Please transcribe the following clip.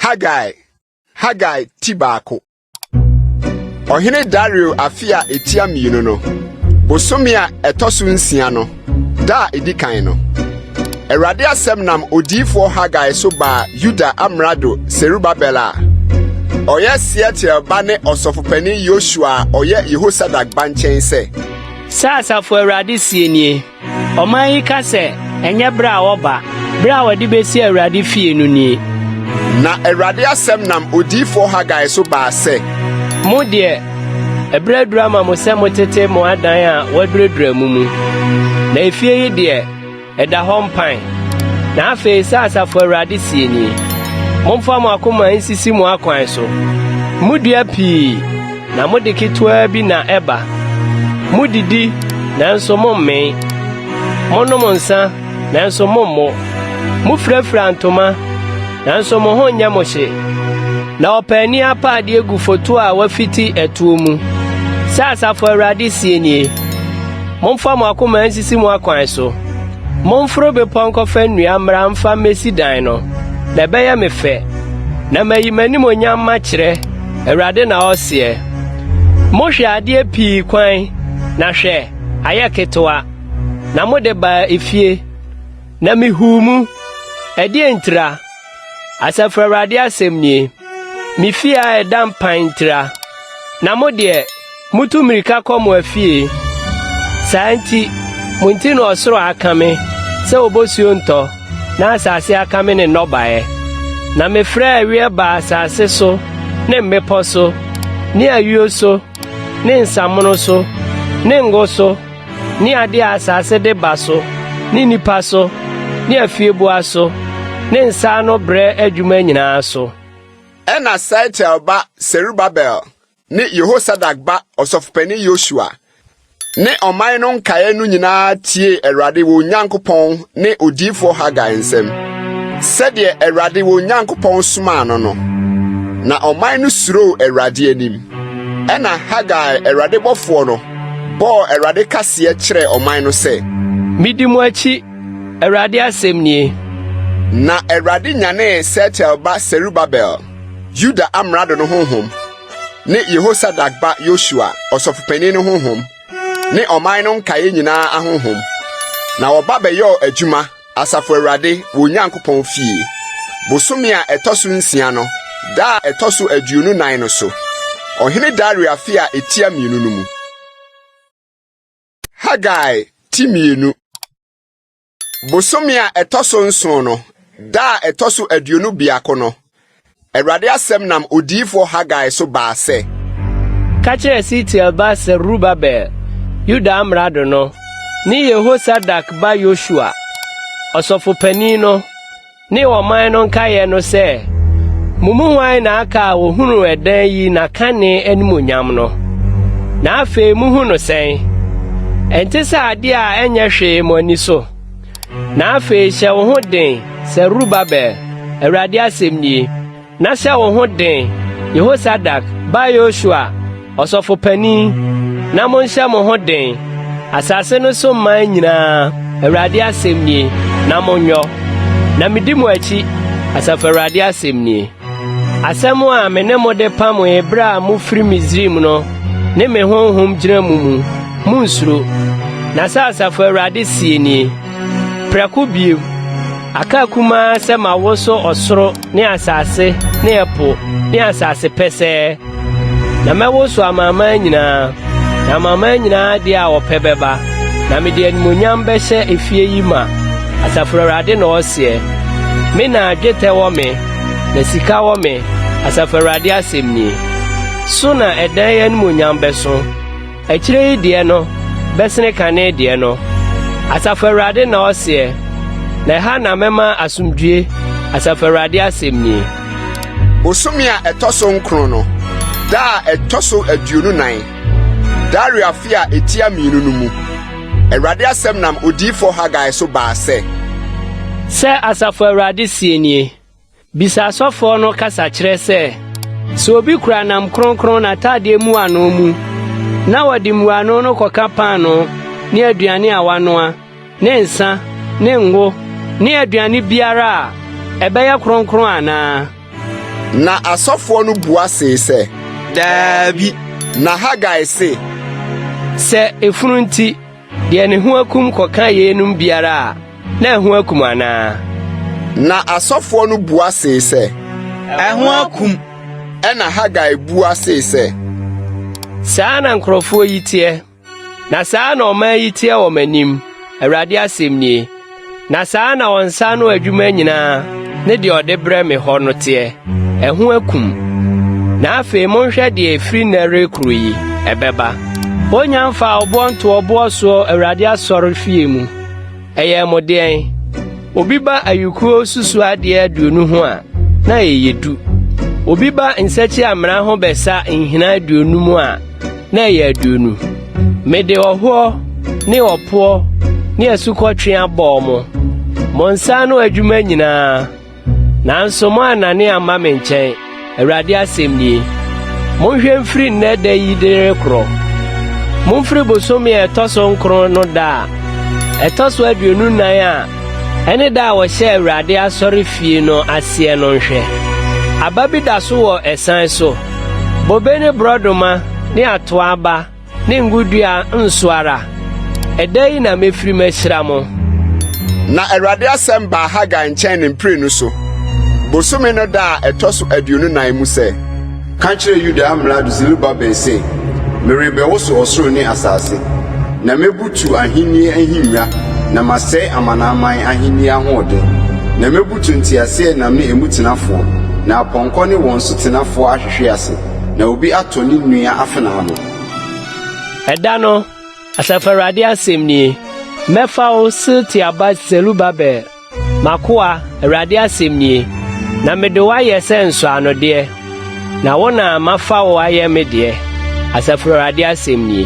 Haggai Haggai ti baako Ɔhene Dario afe a etia mmienu no bosome a ɛtɔ so nsia no da a edi kan no Awurade asɛm nam odiyifoɔ Haggai so baa Yuda amrado Serubabel a ɔyɛ Sealtiel ba ne ɔsɔfopanin Yosua a ɔyɛ Yehosadak ba nkyɛn sɛ Sɛ Asafo Awurade sie nie, ɔman yi ka sɛ, ɛnyɛ berɛ a wɔba, berɛ a wɔde bɛsi Awurade fie no nie. Na Awurade asɛm nam odiyifoɔ Hagai so baa sɛ. Mo deɛ, ɛberɛ aduru ama mo sɛ motete mo adan a wɔaduradura mu mu, na efie yi deɛ, Ɛda hɔ mpan. Na afei, sɛ Asafo Awurade seɛ nie, Momfa mo akoma nsisi mo akwan so. Modua pii, na mode ketewaa bi na ɛba. Modidi, nanso mommen. Monom nsã, nanso mommo. Mofirafira ntoma, nanso mo ho nyɛ mo hye. Na ɔpaani apa adeɛ gu foto a wafiti ɛtoɔ mu, sɛ Asafo Awurade seɛ nie. Momfa mo akoma nsisi mo akwan so. Momforo bepɔ nkɔfa nnua mmra mfa mmesi dan no, na ɛbɛyɛ me fɛ, na mayi m'animuonyam makyerɛ, Awurade na ɔseɛ. Mohwɛ adeɛ pii kwan, na hwɛ! ayɛ ketewa, na mode baa efie, na mehuu mu. Ɛdeɛn ntira? Asafo Awurade asɛm nie, me fie a ɛda mpan ntira, na mo deɛ, mutu mmirika kɔ mo afie. Saa nti, mo nti na ɔsoro akame sɛ obosuo ntɔ, na asase akame ne nnɔbaeɛ. Na mefrɛɛ aweɛ baa asase so ne mmepɔ so ne ayuo so ne nsamono so ne ngo so, ne ade a asase de ba so, ne nnipa so, ne afieboa so, ne nsa ano brɛ adwuma nyinaa so. Ɛnna Sealtiel ba Serubabel ne Yehosadak ba ɔsɔfopanyin Yosua ne ɔman no nkaeɛ no nyinaa tiee Awurade wɔn Nyankopɔn ne odiyifoɔ Hagai nsɛm, sɛdeɛ Awurade wɔn Nyankopɔn somaa no no. Na ɔman no suroo Awurade anim. Ɛnna Hagai, Awurade bɔfoɔ no, bɔɔ Awurade kaseɛ kyerɛɛ ɔman no sɛ. Medi mo akyi, Awurade asɛm nie. Na Awurade nyanee Sealtiel ba Serubabel, Yuda amrado no honhom, ne Yehosadak ba Yosua, ɔsɔfopanin no honhom, ne ɔman no nkaeɛ nyinaa ahonhom, na wɔba bɛyɔɔ adwuma Asafo Awurade wɔn Nyankopɔn fie, bosome a ɛtɔ so nsia no, da a ɛtɔ so aduonu nnan no so, Ɔhene Dario afe a etia mmienu no mu. Hagai ti mmienu. Bosome a ɛtɔ so nson no, da a ɛtɔ so aduonu biako no, Awurade asɛm nam odiyifoɔ Hagai so baa sɛ. Ka kyerɛ Sealtiel ba Serubabel, Yuda amrado no, ne Yehosadak ba Yosua, ɔsɔfo panin no, ne ɔman no nkaeɛ no sɛ, Mo mu hwan na aka a ɔhunuu ɛdan yi n'akane animuonyam no, na afei mohu no sɛn? Ɛnte sɛ adeɛ a ɛnyɛ hwee mo ani so? Na afei hyɛ wo ho den, Serubabel, Awurade asɛm nie, na hyɛ wo ho den, Yehosadak ba Yosua, ɔsɔfo panin, na monhyɛ mo ho den, asase no so mman nyinaa, Awurade asɛm nie, na monyɔ, na medi mo akyi, Asafo Awurade asɛm nie. Asɛm a me ne mo de pamoe bere a mufiri Misraim no, ne me honhom gyina mo mu. Munnsuro. Na sɛ Asafo Awurade sie nie, Prɛko bio, aka akumaa sɛ mawoso ɔsoro ne asase ne ɛpo ne asase pɛsɛɛ, Na mɛwoso amanaman nyinaa, na amanaman nyinaa de a wɔpɛ bɛba, na mede animuonyam bɛhyɛ efie yi ma, Asafo Awurade na ɔseɛ. Me na dwetɛ wɔ me, na sika wɔ me, Asafo Awurade asɛm nie. So na ɛdan yi animuonyam bɛso? Akyire yi deɛ no bɛsene kane deɛ no, Asafo Awurade na ɔseɛ, na ɛha na mɛma asomdwoeɛ, Asafo Awurade asɛm nie. Bosome a ɛtɔ so nkron no, da a ɛtɔ so aduonu nan, Dario afe a ɛtia mmienu no mu, Awurade asɛm nam odiyifoɔ Hagai so baa sɛ. Sɛ Asafo Awurade seɛ nie, Bisa asɔfoɔ no kasakyerɛ sɛ, Sɛ obi kura nam kronkron n'atadeɛ mmuano mu, na ɔde mmuano no kɔka paanoo ne aduane a wanoa, ne nsã, ne ngo, ne aduane biara a, ɛbɛyɛ kronkron anaa? Na asɔfoɔ no bua see sɛ, Daabi. Na Hagai se. Sɛ efunu nti Deɛ ne ho akum kɔka yeinom biara a, na ɛho akum anaa? Na asɔfoɔ no bua see sɛ. Ɛho akum. Ɛna Hagai bua see sɛ. Saa na nkurɔfoɔ yi teɛ, na saa na ɔman yi teɛ wɔ m'anim, Awurade asɛm nie. Na saa na wɔn nsa ano adwuma nyinaa ne deɛ ɔde brɛ me hɔ no teɛ, ɛho akum. Na afei monhwɛ deɛ ɛfiri nnɛ rekoro yi ɛbɛba. Wɔnya mfaa ɔboɔ nto ɔboɔ soɔ Awurade asɔre fie mu. Ɛyɛɛ mo deɛn? Obi ba ayukuo susu adeɛ aduonu ho a, na ɛyɛ du. Obi ba nsakyia mmena ho bɛsa nhina aduonum a, na ɛyɛ aduonu. Mede ɔhoɔ ne ɔpoɔ ne asukɔtweaa bɔɔ mo, mo nsa ano adwuma nyinaa, nanso moannane amma me nkyɛn, Awurade asɛm nie. Monhwɛ mfiri nnɛ da yi de rekorɔ. Momfiri bosome a ɛtɔ so nkron no da a ɛtɔ so aduonu nan a Ɛne da a wɔhyɛɛ Awurade asɔrefie no aseɛ no nhwɛ. Aba bi da so wɔ ɛsan so. Bobe ne borɔdoma ne atoa aba ne ngo dua nso ara. Ɛda yi na mɛfiri mahyira mo. Na Awurade asɛm baa Hagai nkyɛn ne mprenu so, bosome no da a ɛtɔ so aduonu nan mu sɛ. Ka kyerɛ Yuda amrado Serubabel sɛ, 'Merebɛwoso ɔsoro ne asase, na mebutu ahenni ahengua na masɛe amanaman ahenni ahoɔden, na mebutu nteaseɛnam ne emu tenafoɔ, na apɔnkɔ ne wɔn so tenafoɔ ahwehwe ase, na obi atɔ ne nua afenaa no. Ɛda no, Asafo Awurade asɛm nie, 'Mɛfa wo, Sealtiel ba Serubabel, M'akoa, Awurade asɛm nie, Na mede wo ayɛ sɛ nsɔanodeɛ, Na wo na mafa wo ayɛ me deɛ, Asafo Awurade asɛm nie.